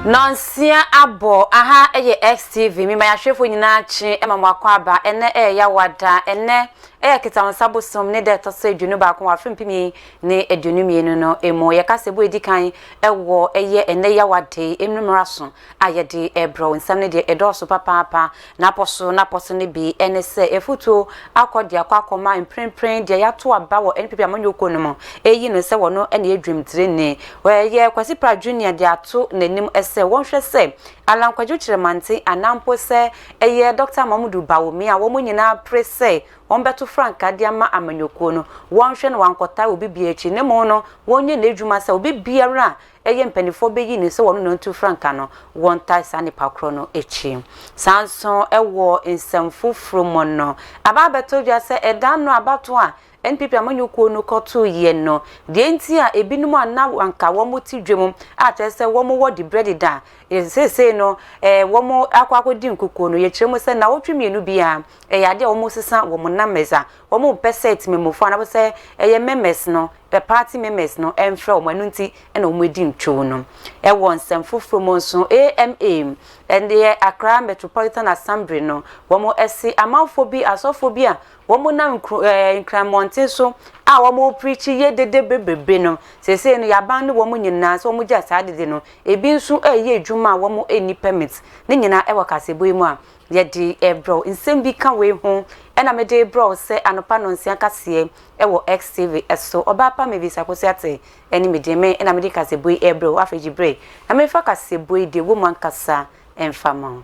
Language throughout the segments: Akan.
Nansia abɔ aha ɛyɛ XTV mema yɛahwɛfoɔ nyinaa kye ɛma mo akɔ aba ɛnɛ ɛyɛ yawada ɛnɛ ɛyɛ kitansa bosom ne dɛ ɛtɔ sɛ aduonu baako wɔ afe mpem yɛn ne aduonu mmienu no ɛmu yɛka sɛ ɛbɔ ɛdi kan ɛwɔ ɛyɛ ɛnɛ yawada yi ɛnumera so a yɛde rebrɛ wo. Nsɛm no deɛ ɛdɔɔso papaapa. N'apɔ so n'apɔ so no bi ne sɛ, afutuo akɔ de akɔ akɔma mprempren deɛ yɛato aba wɔ NPP amanyɔkuo no mu reyi no sɛ wɔno na ɛyɛ dwamtireni. Wɔyɛ Kwasi Pratt Junior de ato n'anim sɛ wɔnhwɛ sɛ Allan Kwadwo Kyeremante anaa mpo sɛ ɛyɛ Dɔkta Mamudu Bawumia a wɔn nyinaa pere sɛ wɔbɛto frankaa de ama amanyɔkuo no, wɔnhwɛ na wɔankɔtaa obi biara akyi na mmom no wɔnyɛ n'adwuma sɛ obi biara a ɛyɛ mpanimfoɔ bɛyi no sɛ wɔne no ntu frankaa no, wɔntae saa nnipa korɔ no akyi. Saa nso wɔ nsɛm foforɔ mu no, aba abɛtɔ dwa sɛ ɛda ano abatoɔ a NPP amanyɔkuo no kɔtoeɛ no, deɛ nti a ɛbinom a na anka wɔte dwam a kyerɛ sɛ wɔwɔ diberɛ deda a seesei no wɔakɔ akɔdi nkukuo no, yɛkyerɛ mu sɛ nnawɔtwe mmienu biara ɛyɛ adeɛ a wɔsesa wɔn numbers a Wɔmpɛ sɛ Temamufoɔ anaasɛ ɛyɛ Memes no, the party Memes no mfrɛ wɔn, ɛno nti na wɔadi ntwoo no. Wɔ nsɛm foforɔ mu nso, AMA, ɛyɛ Accra Metropolitan Assembly no, wɔasi amanfoɔ bi, asɔfoɔ bi a wɔnam nkuro, ɛɛ, Nkran mmɔnten so a wɔrepreachi yɛ dede bebrebe no, seesei no yɛaban ne wɔn nyinaa sɛ wɔgyae saa dede no. Ebi nso reyɛ adwuma a wɔnni permit. Ne nyinaa wɔ kaseɛbɔ yi mu a Yɛde rebrɛw nsɛm bi ka wei ho ɛna mede rebrɛw sɛ anɔpa nnɔnsia kaseɛ ɛwɔ XTV ɛso. Ɔbaa pa mebisa Kosiate ɛne me deɛ me ɛna mede kasɛbuo yi rebrɛ wo afei gye bere na memfa kasɛbuo yi deɛ ɛwɔ mu ankasa mfa ma wo.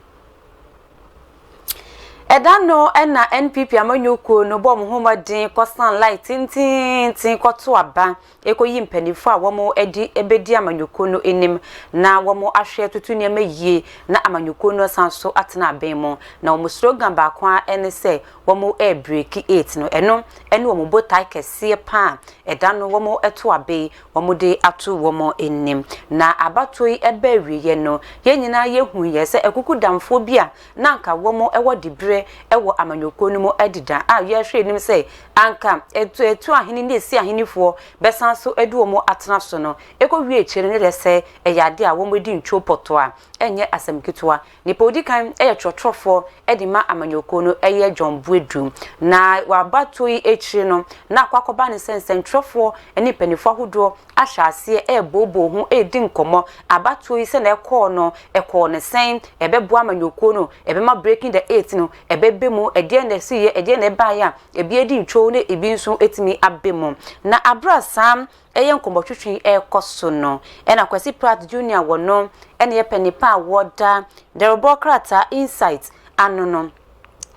Ɛda no ɛna NPP amanyɔkuo no bɔɔ mo ho mmɔden kɔsan line tententen kɔto aba ekoyi mpanyimfo a wɔadi bedi amanyɔkuo no anim na wɔahwɛ atutu nneɛma yie na amanyɔkuo no asan nso atena abɛn mu. Na wɔn slogan baako ara ne sɛ wɔrebreaki it no. Ɛno ne wɔn botae kɛseɛ pa a ɛda no wɔto abe yi wɔde ato wɔn anim. Na abatoɔ yi ɛbaa awieɛ no, yɛn nyinaa yɛhuiɛ sɛ akukudamfoɔ bi a na anka wɔwɔ diberɛ wɔ amanyɔkuo no mu adi da a yɛhwɛ anim sɛ anka ɛtu ahene ne ɛsi ahenefoɔ bɛsan nso adi wɔn atena so no ɛkɔ wie akyire no ne deɛ sɛ ɛyɛ adeɛ a wɔn adi ntwoo pɔtɔ a ɛnyɛ asɛm ketewa nipa odi kan yɛ twerɛtwerɛfoɔ de ma amanyɔkuo no ɛyɛ John Boadu na waba tuo yi akyire no na akɔ akɔba ne sɛ nsɛntwerɛfoɔ ne mpanifoɔ ahodoɔ ahyɛ aseɛ rebooboo ho redi nkɔmmɔ, abatoɔ yi sɛdeɛ ɛkɔɔ no, ɛkɔɔ no sɛn, ɛbɛboa amanyɔkuo no, ɛbɛma Breaking the Eight no ɛbɛba mu, ɛdeɛn na ɛsiiɛ, ɛdeɛn na ɛbaeɛ a ɛbi adi ntwoo na ɛbi nso atumi aba mu. Na aberɛ a saa ɛyɛ nkɔmmɔtwetwe yi ɛrekɔ so no, ɛna Kwasi Pratt Junior a wɔno ɛna ɛyɛ panipa a wɔda dawurubɔ krataa Insight ano no,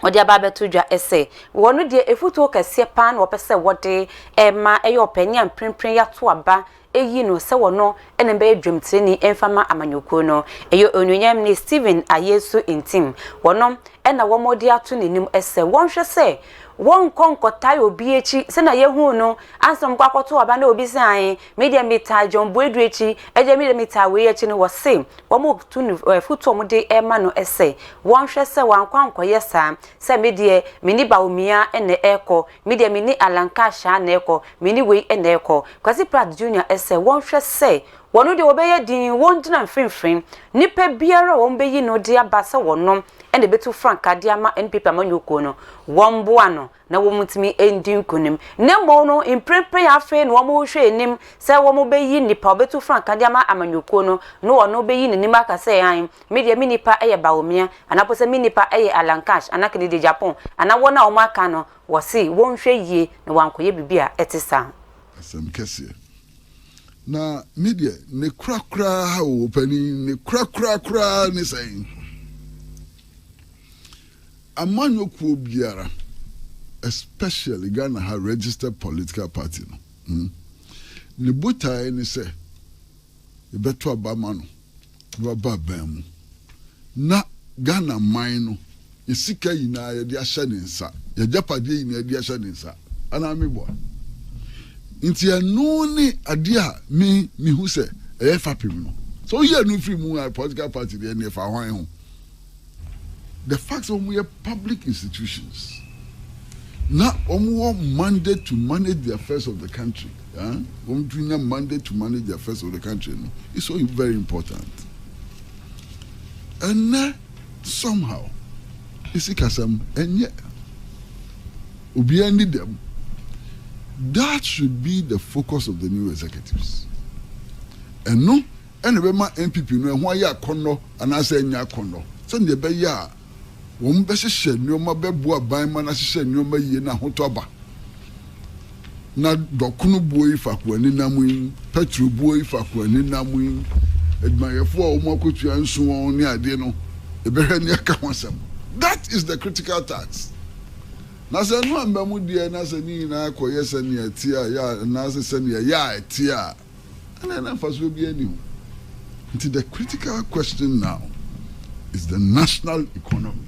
wɔde aba abɛto dwa sɛ wɔn no deɛ afutuo kɛseɛ paa na wɔpɛ sɛ wɔde ma ɛyɛ ɔpɛ ne a mprempren yɛato aba ayi no sɛ wɔno na ɛbɛyɛ dwamtirani mfa ma amanyɔkuo no. Ɛyɛ Onuonyam ni Stephen Ayesu Ntim, wɔno na wɔde ato n'anim sɛ wɔnhwɛ sɛ wɔnkɔ nkɔtae obi akyi sɛnea yɛhuu no ansa na wɔkɔ akɔto aba na obi sɛ ae Me deɛ me taa John Boadu akyi ɛdeɛ me deɛ me taa wei akyi no wɔ se wɔn tu no afutuo wɔn de ɛma no ɛsɛ wɔn hwɛ sɛ wɔn ankɔ ankɔ yɛ saa sɛ me deɛ me ne Bawumia ɛna ɛkɔ me deɛ me ne Allan Cash a na ɛkɔ me ne wei ɛna ɛkɔ Kwasi Pratt Junior ɛsɛ wɔn hwɛ sɛ wɔn deɛ wɔbɛyɛ din wɔn gyina mfinfin nipa biara a wɔn bɛyi no de aba sɛ wɔn ɛna ɛbɛtu frankaa de ama NPP amanyɔkuo no wɔn boa no na wɔntumi ndi nkonim, na mmom no mprempren afei na wɔrehwɛ anim sɛ wɔbeyi nnipa a wɔbetu frankaa de ama amanyɔkuo no, na ɔno beyi n'anim aka sɛ, Aane, me deɛ me nnipa yɛ Baomia, anaa mpo sɛ me nnipa yɛ Alankash anaa Kennedy-Agyapong, anaa wɔn a wɔaka no, wɔse wɔnhwɛ yie na wɔankɔyɛ biribi a ɛte saa. Asɛm kɛseɛ. Na me deɛ ne korakoraa o, ɔpanin, ne korakoraa koraa ne sɛn? Amanyɔ kuo biara especially Ghana ha registered political party no ne botaeɛ ne sɛ yɛbɛto aba ama no na waba aban mu na Ghana man no yɛ sika nyinaa yɛde ahyɛ ne nsa yɛ agyapadeɛ nyinaa yɛde ahyɛ ne nsa anaa me boa nti ɛno ne adeɛ a me mehu sɛ ɛyɛ fapem no sɛ woyɛ no firi mu a political party deɛ ne ɛfa hwan ho The fact sɛ wɔyɛ public institutions na wɔwɔ mandate to manage the affairs of the country eh? wɔn tumi nya mandate to manage the affairs of the country no is so very important ɛnɛ somehow esi kasam ɛnyɛ obiara ni dɛm that should be the focus of the new executives ɛno. na ɛbɛma NPP no ɛho ayɛ akɔnnɔ anaasɛ ɛnyɛ akɔnnɔ sɛnea ɛbɛyɛ a wɔbɛhyehyɛ nneɛma bɛboa ban ma no ahyehyɛ nneɛma yie na ahotɔ aba. Na dɔkono buo yi faako ani nam yi, pɛtro buo yi faako ani nam yi, adwumayɛfoɔ a wɔn akɔtua nso wɔn ne adeɛ no, yɛbɛhwɛ ne aka ho asɛm. That is the critical task. Na sɛ ɛno amma mu deɛ na sɛ ne nyinaa kɔyɛ sɛnea ɛteɛ a, yɛ a, anaasɛ sɛnea ɛyɛ a ɛteɛ a, ɛnneɛ na mfasoɔ biara nni ho. Nti the critical question now is the national economy.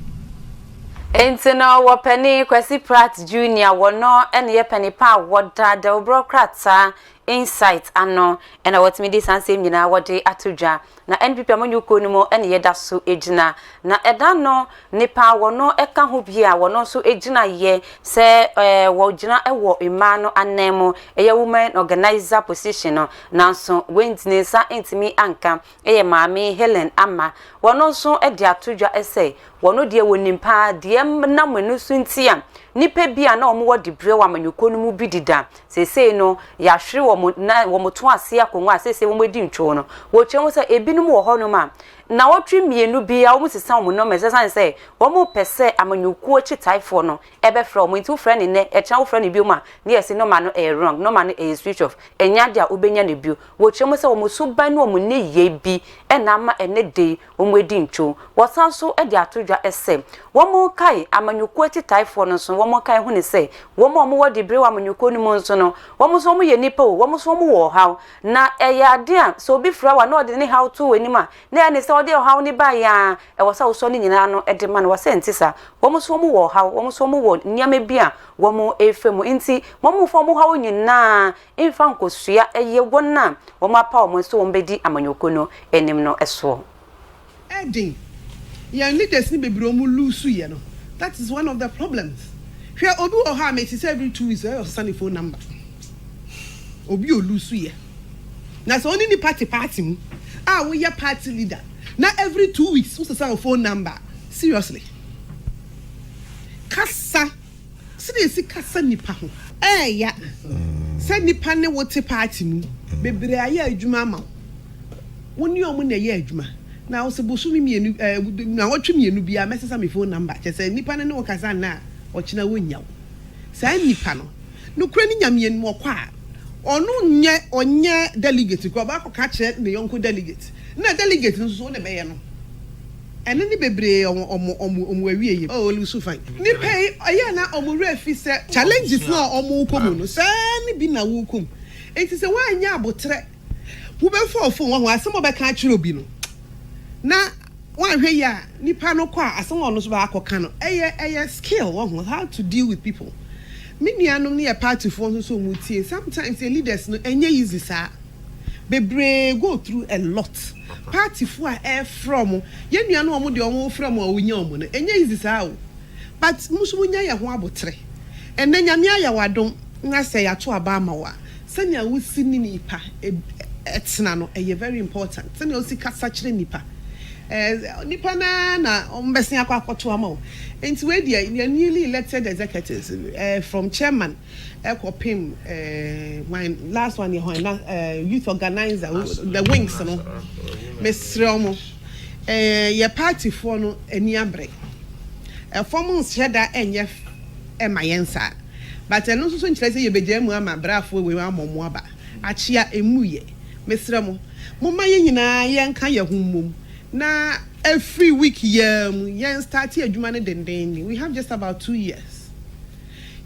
Nti no wɔ Pani Kwasi Pratt Junior wɔ no na yɛ Pani pa a wɔ da dawubrɔ krataa Insight ano na wɔ tumi de saa nsɛm nyinaa wɔ de ato dwa. Na NPP a monnye kuo no mu ne yɛ da so gyina. Na ɛda no nnipa a wɔno ka ho bi a wɔno nso gyina yɛ sɛ wɔ gyina wɔ mmaa no anan mu, ɛyɛ women organiser position no, nanso wandi ne nsa antumi anka, ɛyɛ Maame Helen Ama. Wɔno nso de ato dwa sɛ wɔno deɛ wɔnim paa deɛ ɛnam ɛno so nti a nnipa bi a na wɔn wɔ dibrɛ wɔ amanyɔkuo no mu bi deda Seesei no, yɛahwere wɔn, na wɔto ase akongua a seesei wɔadi ntwoo no. Wɔkyerɛ mu sɛ ebinom wɔ hɔnom a, nnawɔtwe mmienu biara wɔsesa wɔn nɔma. Esiane sɛ wɔmpɛ sɛ amanyɔkuo akyi taefoɔ no bɛfrɛ wɔn nti, wofrɛ no nnɛ, ɛkyena wofrɛ no bio a, na yɛse nɔma no yɛ wrong, nɔma no yɛ switch off, ɛnyɛ adeɛ a wobɛnya no bio. Wɔkyerɛ mu sɛ wɔn suban ne wɔn nneyɛe bi na ama ɛnnɛ da yi Wɔadi ntwo. Wɔsan nso de ato dwa sɛ wɔkae amanyɔkuo akyitaefoɔ no nso no, wɔkae hu no sɛ wɔn a wɔwɔ diberɛ wɔ amanyɔkuo no mu nso no, wɔn nso wɔyɛ nnipa o, wɔn nso wɔwɔ ɔhaw. Na ɛyɛ adeɛ a sɛ obi fra wo a na ɔde ne haw to w'anim a, na ɛyɛ ne sɛ ɔde ɔhaw no baeɛ ara, ɛwɔ sɛ wosɔ ne nyinaa ano de ma no. Wɔse ɛnte saa. Wɔn nso wɔwɔ ɔhaw, wɔn nso wɔwɔ nneɛma bi a wɔrefa mu. Enti wɔmfa wɔn haw nyinaa mfa nkosua yɛ wɔn a wɔapaw wɔn sɛ wɔbedi amanyɔkuo no anim no soɔ. Ɛden. Yɛn leaders no bebree wɔn loosu yɛ no that is one of the problems hwɛ obi wɔ hɔ a mete sɛ every two weeks ɔyɛ ɔsesa ne phone number obi o loosu yɛ na sɛ ɔne nipa te party mu a woyɛ party leader na every two weeks wosesa wo phone number seriously kasa Sɛdeɛ yɛsi kasa nnipa ho. Ɛɛya sɛ nnipa ne wo te party mu. Bebree ayɛ adwuma ama wo. Wo ne wɔn na ɛyɛ adwuma. Na wo se bosome mmienu ɛɛ nnawɔtwe mmienu biara mɛsesa me phone number. Kyerɛ sɛ nnipa no ne wo kasa nnɛ a, ɔkyena wɔnnya wo. Saa nnipa no, nokorɛ no Nyame anim ɔkɔ a, ɔno nyɛ ɔnyɛ delegate koraa. Ɔbɛakɔka akyerɛ ne yɔnko delegate. Na delegate no nso so wo na ɛbɛyɛ no. Ɛno ne bebree ɔmo ɔmo ɔmo ɔmo awieɛ oh ɔno nso fine. Nipa yi ɔyɛ na ɔmo werɛ fi sɛ challenges no a ɔmo kɔ mu no saa ne bi na wo kɔ mu nti sɛ wanyɛ abotrɛ wo bɛ fall fom wahu asɛm a ɔbɛka akyerɛ obi no na wanhwɛ yie a nipa no kɔ a asɛm a ɔno nso bɛ akɔ ka no ɛyɛ ɛyɛ skill wahu how to deal with people me nua nom no yɛ party foɔ nso so ɔmo tie sometimes yɛ leaders no ɛnyɛ easy saa. bebree go through a lot party foɔ a ɛfrɛ ɔmo yɛn nua no ɔmo deɛ ɔmo frɛ ɔmo a ɔmo nya ɔmo no ɛnyɛ easy saa o but mo nso mo nya yɛ ho aboterɛ ɛnɛ nyame ayɛ wo adom na sɛ yɛato aba ama wo a sɛnea wo si ne nipa ɛtena no ɛyɛ very important sɛnea wo si kasa kyerɛ nipa ɛɛ nipa no ara na ɔmo bɛsen akɔ akɔto ama wo nti wei deɛ yɛn newly elected executives ɛɛ from chairman. ɛkɔpem ɛɛ hwan last one yɛ hwan na ɛɛ youth organizer wo the wings no mesrɛ wɔn ɛɛ yɛ party foɔ no ani abre ɛfɔm nhyɛ da ɛnyɛ ɛma yɛn saa but ɛno nso so nkyerɛ sɛ yɛbɛgyaa mu ama braafoɔ wei ama wɔn aba akyea ɛmu yɛ mesrɛ mo momma yɛn nyinaa yɛnka yɛn ho mmom na ɛfiri week yi ara mu yɛn starte adwuma no dendenden we have just about two years.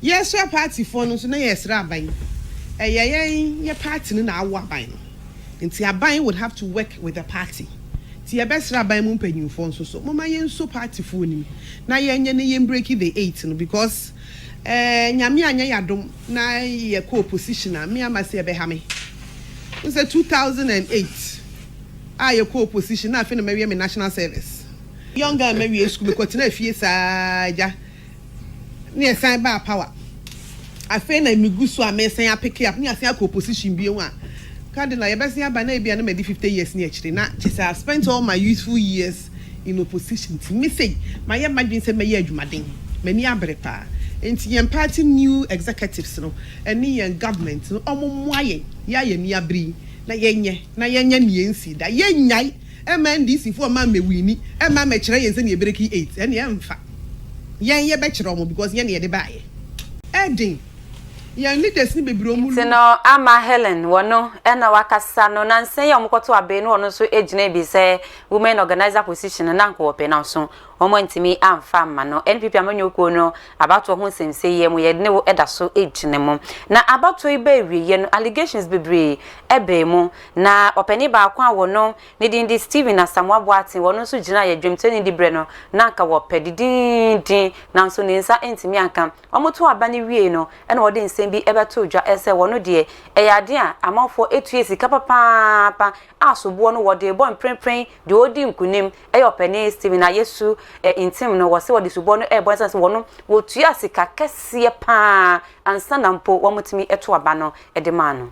Yɛsra partyfoɔ no nso na yɛresra aban. Ɛyɛ yɛn yɛ party no na awo aban no. Nti aban would have to work with the party. Nti yɛbɛsra aban mu mpanyinfoɔ nso so momma yɛnso partyfoɔ no mu na yɛnyɛ na yɛn breaki the eight no because eh Nyame anyɛ yɛn adom na yɛkɔ opposition a me ama sɛ ɛbɛha me. Wohu sɛ two thousand and eight a yɛkɔ opposition na afei na mawie me national service. Young a mawie sukuu mekɔtenaa fie saa agya Ne ɛsan baa power. Afei na me gu so a me san apeke up ne asan akɔ opposition bio a Cardinal yɛ bɛsen aba na ebia na madi fifty years ne akyire na kyɛ sɛ I spent all my youthful years in opposition nti me sei mayɛ madwene sɛ mɛyɛ adwumaden m'ani abere paa nti yɛn party new executives no ɛne yɛn government no wɔn mmoa yɛn yɛ a yɛn ani abere yi na yɛnyɛ na yɛnyɛ nea ɛnsii da yɛnnyae Ɛmma NDC foɔ mma mmɛwini, ɛmma mmɛkyerɛ yɛn sɛnea yɛbɛreki eight, ɛnneɛ ɛmfa. Yɛn yɛbɛkyerɛ wɔn because yɛn na yɛde baeɛ. Ɛden, yɛn leaders no bebree wɔn Nti lu. no ama Helen wɔ no na wakasa no nansa yi a wɔkɔto abee no ɔno nso gyinaa bi sɛ women organiser position no na anka ɔpɛ nanso wɔn antumi amfa amma no. NPP amanyɔkuo no abatoɔ ho nsɛm sei yɛ mu yɛ ne wo da so gyina mu. Na abatoɔ yi baa awieɛ no allegations bebree baa mu Na ɔpanin baako a wɔ no ne din de Stephen Asamoah Boateng wɔ no nso gyinaa yɛ dwomtoani dibrɛ no na anka wɔ pɛ didindin nanso ne nsa antumi anka. Wɔn too aba no wiei no ɛna wɔde nsɛm bi bɛ too dwa ɛsɛ wɔ no deɛ ɛyɛ adeɛ a amanfoɔ tua sika papaapa a soboɔ no wɔ dee bɔ mprenpren deɛ ɔredi nkunim ɛyɛ ɔpanin Stephen Ayesu Ntim no wɔ se wɔde soboɔ no ɛbɔ no ɛsiane sɛ wɔ no wɔ tua sika kɛseɛ paa ansa na mpo wɔn tumi too aba no de maa no.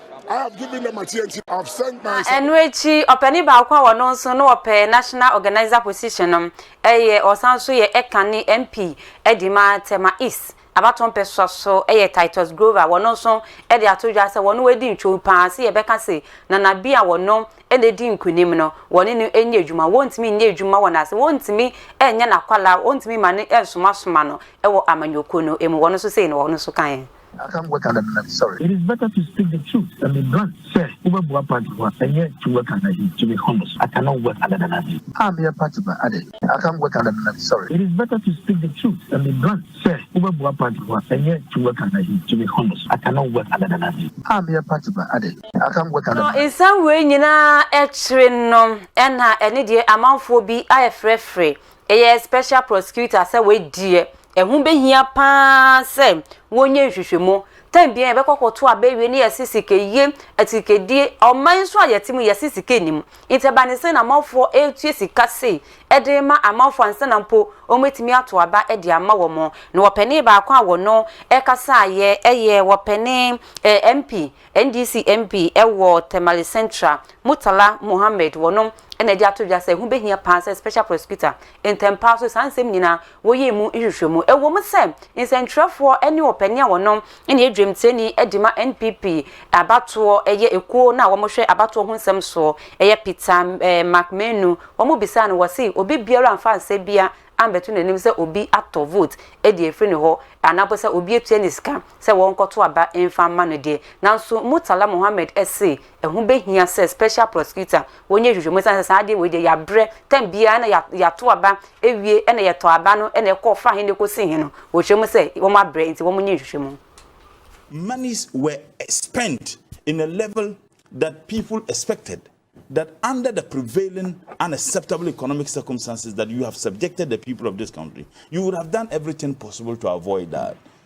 Na ɛno akyi ɔpanin baako a ɔno nso na ɔpɛ National Organiser position no yɛ ɔsan nso yɛ Ekan ne MP de ma Tema East abatoɔ mpɛsoa so yɛ Titus Grover wɔno nso de ato dwa sɛ wɔno adi ntwom paa sɛ yɛbɛka se Nana bi a wɔno na edi nkunim no wɔne no nyɛ adwuma wɔntumi nyɛ adwuma wɔ n'ase wɔntumi nyɛ n'akwalaa wɔntumi ma no nsomasoma no wɔ amanyɔkuo no mu wɔno nso sei na wɔno nso kaeɛ. I can't work under Nana sorry. It is better to speak the truth and be blunt sɛ wobɛboa party ho a ɛnyɛ to work under him to be honest I cannot work under Nana bi. A meyɛ party ba adɛn. I can't work under Nana sorry. It is better to speak the truth and be blunt sɛ wobɛboa party ho a ɛnyɛ to work under him to be honest I cannot work under Nana bi. A meyɛ party ba adɛn. I can't work under Nana. Nsɛm wei nyinaa akyire no na ɛne deɛ amanfoɔ bi ayɛ frɛfrɛ ɛyɛ special prosecutor sɛ wei deɛ Ɛho bɛhia pa ara sɛ wɔnyɛ nhwehwɛmu. Tan biara yɛbɛkɔ akɔto aba awie na yɛse sikayie, asikadie, ɔman nso a yɛte mu yɛse sika nnim. Nti ɛba ne sɛn na amanfoɔ retua sika sei de rema amanfoɔ ansa na mpo wɔatumi ato aba de ama wɔn. Na wɔpɛnee baako a wɔno kasaeɛ yɛ wɔpɛnee MP, NDC MP wɔ Tamale Central, Murtala Mohammed, wɔno na ɛde ato dwa sɛ ɛho bɛhia pa ara sɛ Special Prosecutor, ntɛm pa ara nso saa nsɛm nyinaa Woyɛɛ mu nhwehwɛmu. Ɛwom sɛ nsɛntwerɛfoɔ ne ɔpanin a ɔno ne adwamteni de ma NPP abatoɔ yɛ ekuo no a wɔhwɛ abatoɔ ho nsɛm soɔ yɛ Peter McMenu, wɔbisaa no, wɔse obi biara amfa nsɛ bia ambɛto n'anim sɛ obi atɔ vote de afiri ne hɔ anaa mpo sɛ obi atua ne sika sɛ wɔnkɔto aba mfa mma no deɛ. Nanso Murtala Mohammed se Ɛho bɛhia sɛ special prosecutor wɔnyɛ nhwehwɛmu ɛsiane sɛ saa adeɛ wei deɛ yɛabrɛ, time biara na yɛato aba awie ɛna yɛtɔ aba no ɛna ɛkɔ fa he na ɛkɔsi he no wɔkyerɛ mu sɛ wɔn abrɛ nti wɔn nyɛ nhwehwɛmu. Monies were spent in a level that people expected that under the prevailing unacceptable economic circumstances that you have subjected the people of this country you would have done everything possible to avoid that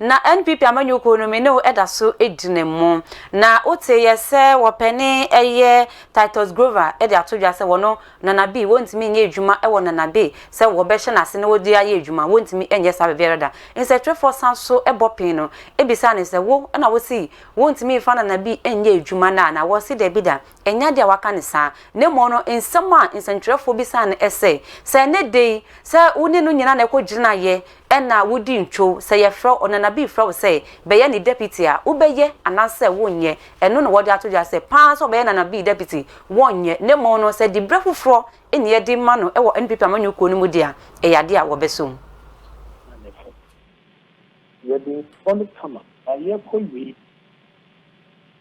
Na NPP amanyɔkuo no me ne wo da so gyina mu. Na wo te yɛ sɛ wɔpɛne yɛ Titus Grover de ato dwa sɛ wɔno Nana Abbey wɔntumi nyɛ adwuma wɔ Nana Abbey sɛ wɔbɛhyɛ no ase na wɔde ayɛ adwuma, wɔntumi nyɛ saa baabiara da. Nsɛtwerɛfoɔ san so bɔ pee no bisa no sɛ wo na wo se wɔntumi mfa Nana Abbey nyɛ adwuma no a na wɔse dabi da, ɛnyɛ adeɛ a waka no saa na mmom no nsɛm a nsɛntwerɛfoɔ bisaa no sɛ sɛ ɛnɛ da yi sɛ wo ne no nyinaa na ɛkɔ gyinaeɛ Ɛna wodi ntwow. Sɛ yɛfrɛ wo, Ɔnanabii frɛ wo sɛ bɛyɛ ne deputy a, wobɛyɛ anaasɛ wonyɛ? Ɛno na wɔde ato dwa sɛ paa sɛ ɔbɛyɛ Ɔnanabii deputy, wɔnyɛ. Na mmom no, sɛ dibrɛ foforɔ na yɛde ma no wɔ NPP amanyɔ kuo no mu de a, ɛyɛ adeɛ a wɔbɛsɔ mu. Na ne fam. Yɛde nsɔ no kama. Na yɛkɔ wie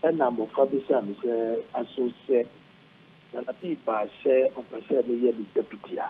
no, ɛna mmɔfra bisaa me sɛ, Aso sɛ Ɔnanabii baa sɛ ɔpɛ sɛ meyɛ ne deputy a?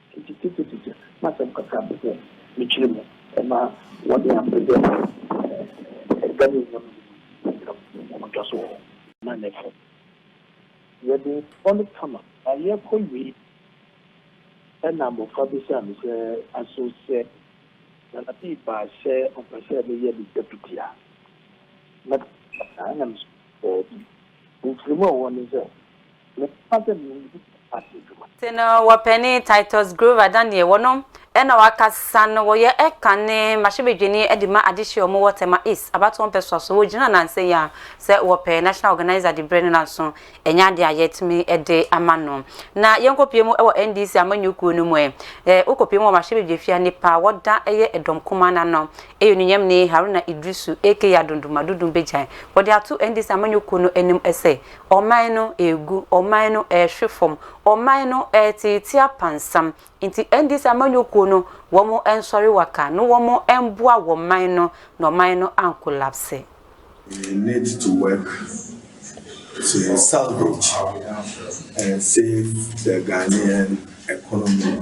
Kitikitikitiki m'asɛm kakra bobɔ me tiri mu ma wɔde ampɛ dɛ ɛda me nua mmienu yi ntam ɔkɔtɔ so wɔ hɔ. Na ne fɛ. Yɛde bɔ no kama. Na yɛkɔ wie na abɔfra bisaa me sɛ, Aso sɛ Nana Bii baa sɛ ɔpɛ sɛ meyɛ ne deputy a, mɛba? Na me nso mese, Daabi. Mfirimu a ɔwɔ ne sɛ. Mepa dɛ munyi ase dwuma. Tse no wɔ panyin Titus Grover Daniel wɔ no na ɔakasa no wɔyɛ kan ne mbahyɛbadwani de ma adehye a wɔwɔ Tema East abatoɔ mpɛsoa so wɔgyina nansa yi a sɛ wɔpɛ national organiser de brɛ no nanso ɛnyɛ adeɛ a yɛatumi de ama no na yɛnkɔpue mu wɔ NDC amanyɔkuo no mu ɛ wokɔpue mu wɔ mbahyɛbadwafia nipa a wɔda yɛ ɛdɔm kumaa no ano ɛyɛ onunyamni Haruna Idrisu aka Adondomadodom Bagyan wɔde ato NDC amanyɔkuo no anim sɛ Ɔman no regu, ɔman no rehwe fam, ɔman no reteetee apansam. Nti NDC amanyɔkuo no, wɔn nsɔre waka na wɔn mboa wɔn man no na ɔman no ankolapse. We need to work to salvage and save the Ghanaian economy.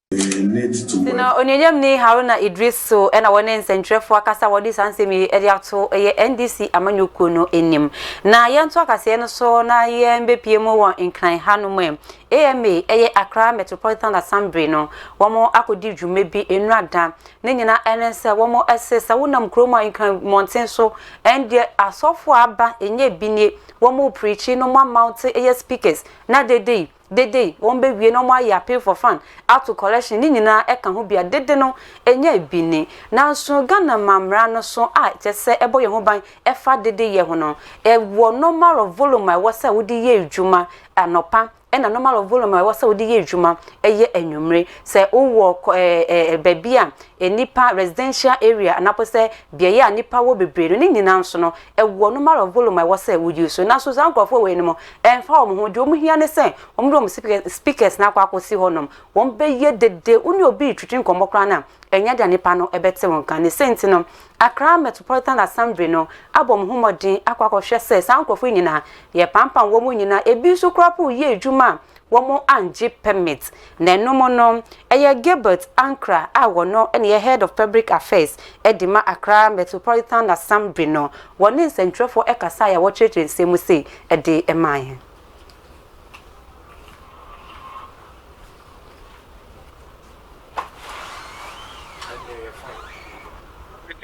Nti no, Onuagyamni Haruna Idris so na wɔne nsɛnkyerɛfoɔ akasa a wɔde saa nsɛm yi de ato ɛyɛ NDC amanyɔkuo no anim. Na yɛnto akasaeɛ no so na yɛmbɛpue mu wɔ Nkran ha nom ɛ. AMA, ɛyɛ Accra Metropolitan Assembly no, wɔn akɔdi dwuma bi nnora da. Ne nyinaa ɛne sɛ wɔn se sɛ wonam kuro mu a Nkran mmɔnten so ɛndeɛ asɔfoɔ a aba ɛnyɛ bi nie, wɔn preachi no moamount ɛyɛ speakers na dede yi, Dede, wɔn bɛ wie na wɔn ayɛ appeal for fund, ato collection, ne nyinaa ɛka ho bia dede no ɛnya bi ni. Nanso Ghana ma mmara no so a kyɛ sɛ ɛbɔ yɛn ho ban ɛfa dede yɛ ho no, ɛwɔ normal of volume a ɛwɔ sɛ wode yɛ adwuma anɔpa ɛna normal of volume a ɛwɔ sɛ wode yɛ adwuma ɛyɛ anwummere. Sɛ wo wɔ ɛɛ baabi a nnipa, residential area, anaa mpo sɛ beaeɛ a nnipa wɔ bebree no, ne nyinaa nso no Ɛwɔ no matter of volume a ɛwɔ sɛ wo use. Nanso saa nkorɔfoɔ wei nom ɛnfa wɔn ho. Deɛ wɔn hia ne sɛ wɔn de wɔn speakers speakers no akɔ akɔ si hɔ nom. Wɔn bɛyɛ dede. Wo ne obi retwitwi nkɔmmɔ koraa no a ɛnyɛ dea nipa no bɛte wo nka. Ne sɛ nti no Accra Metropolitan Assembly no abɔ wɔn ho mmɔden akɔ akɔ hwɛ sɛ saa nkorɔfoɔ yi nyinaa yɛ pampam wɔn nyinaa. Ebi nso koraa po yɛ adwuma a wɔanngye permit na ɛno mo no ɛyɛ Gilbert Ankrah a wɔno na ɛyɛ Head of Public Affairs de ma Accra Metropolitan Assembly no wɔne nsɛntwerɛfoɔ ɛkasaeɛ a wɔkyerɛkyerɛ nsɛm mu sei ɛde ɛmaeɛ.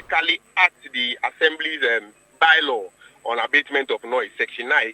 critically act the Assembly's By-law on Abatement of Noise, Section 9.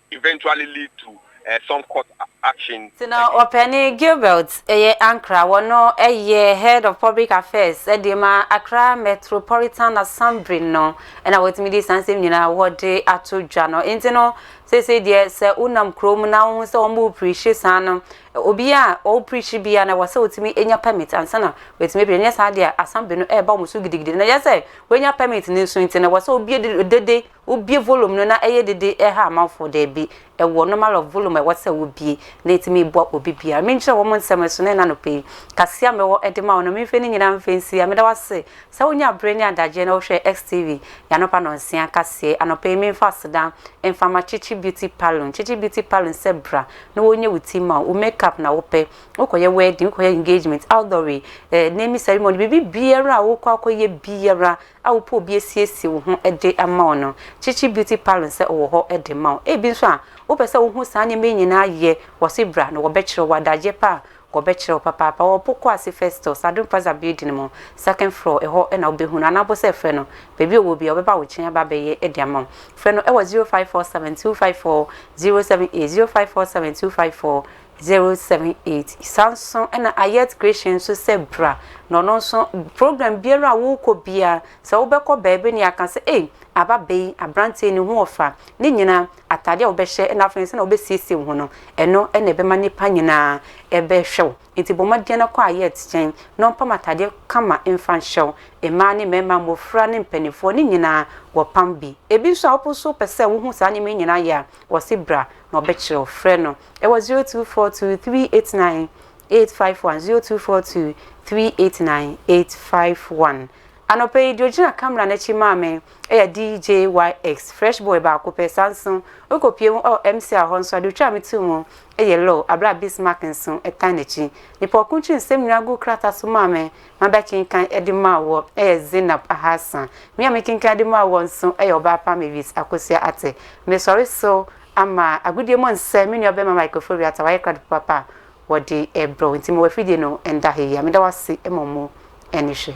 eventually lead to some court action against. Tena Ɔpɛni Gilbert yɛ Ankra wɔ no yɛ Head of Public Affairs de ma Accra Metropolitan Assembly no na wɔtumi de saa nsɛm nyinaa wɔde ato dwa no nti no seesei deɛ sɛ wo nam kuro mu na wo ho sɛ wɔn mo preachi saa no obi a ɔwɔ preachi bia na wɔsɛ wɔtumi anya permit ansa na wɔtumi preachi nyɛ saa deɛ Assembly no ɛreba wɔn so gidigidi na yɛ sɛ wɔanya permit no nso nti na wɔsɛ obi dede Wobie volume no na ɛyɛ dede ɛha amanfoɔ daabi ɛwɔ normal of volume a ɛwɔ sɛ wobie na ɛti me boa obi biara me nkyerɛ wɔn nsɛm ɛso na ɛna anɔpa yi kaseɛ a me wɔ ɛde ma wɔn no me mfɛ ne nyinaa mfɛ nsi a meda wo ase sɛ wo nya abere ne adagyeɛ na wo hwɛ XTV y'anɔpa nɔnsia kaseɛ anɔpa yi me mfa aseda mfa ma Chichi Beauty Paloon Chichi Beauty Paloon sɛ bra na wɔ nyɛ wo ti ma wo wo make up na wo pɛ wo kɔ yɛ wedding wo kɔ yɛ engagement outdoor wei eh naming ceremony biribi biara a wo kɔ akɔ yɛ biara a wopɛ obi asiesie wo ho de ama wo no, Chichi Beauty Parlon sɛ ɔwɔ hɔ de ma wo. Ebi nso a, wopɛ sɛ wohu saa nneɛma yi nyinaa yɛ, wɔse bra na wɔbɛkyerɛ wo, adagyeɛ pa a wɔbɛkyerɛ wo papaapa. Wɔwɔ Poku ase Festus, Adom Plaza building mu, second floor, ɛhɔ na wobɛhu no, anaa wobɔ sɛ frɛ no, baabi a ɔwɔ biara ɔbɛba wo nkyɛn aba abɛyɛ de ama wo. Frɛ no wɔ 0547 254 078, 0547 254 078 Saa nso na Ayet Grecia nso sɛ bra na ɔno nso program biara a wokɔ bia sɛ wobɛkɔ baabi ne aka sɛ ei aba bɛyi abranteɛ ne ho ɔfa ne nyina atade a wobɛhyɛ na afei nso na wobɛsiesie wo ho no ɛno na ɛbɛma nipa nyinaa ɛbɛhwɛ wo nti bɔ mmɔden na kɔ Ayet kyɛn na ɔmpam atadeɛ kama mfa nhyɛ wo mmaa ne mmarima mmɔfra ne mpanimfoɔ ne nyinaa wɔpam bi ebi nso a wopo nso pɛ sɛ wohu saa nneɛma nyinaa yɛ a wɔse bra na ɔbɛkyerɛ wo frɛ no Ɛwɔ zero two four two three eight nine eight five one zero two four two three eight nine eight five one. Anɔpa yi deɛ ogyina kamera n'akyi maa me ɛyɛ DJYX fresh boy baako pɛ saa nso ɔkɔ pie mu ɛwɔ MCR hɔ nso adeɛ otwaa me too mu ɛyɛ low abere a Bismarck nso ɛtan n'akyi. Nipa ɔko nkyiri nsɛm nyinaa gu krataa so maa me ma bɛ kenkan ɛde maa wɔ ɛyɛ Zainab Ahasa. Me a me kenkan ɛde maa wɔ nso ɛyɛ ɔbaa pa Mavis Akosua Ate. Mesɔre so Ama agodie mu nsɛ me nua bɛma Michael Foriata wayɛ krado papaapa a wɔde rebrɛ wo nti ma w'afidie no nda heyia meda wo ase ma mu ani hwɛ.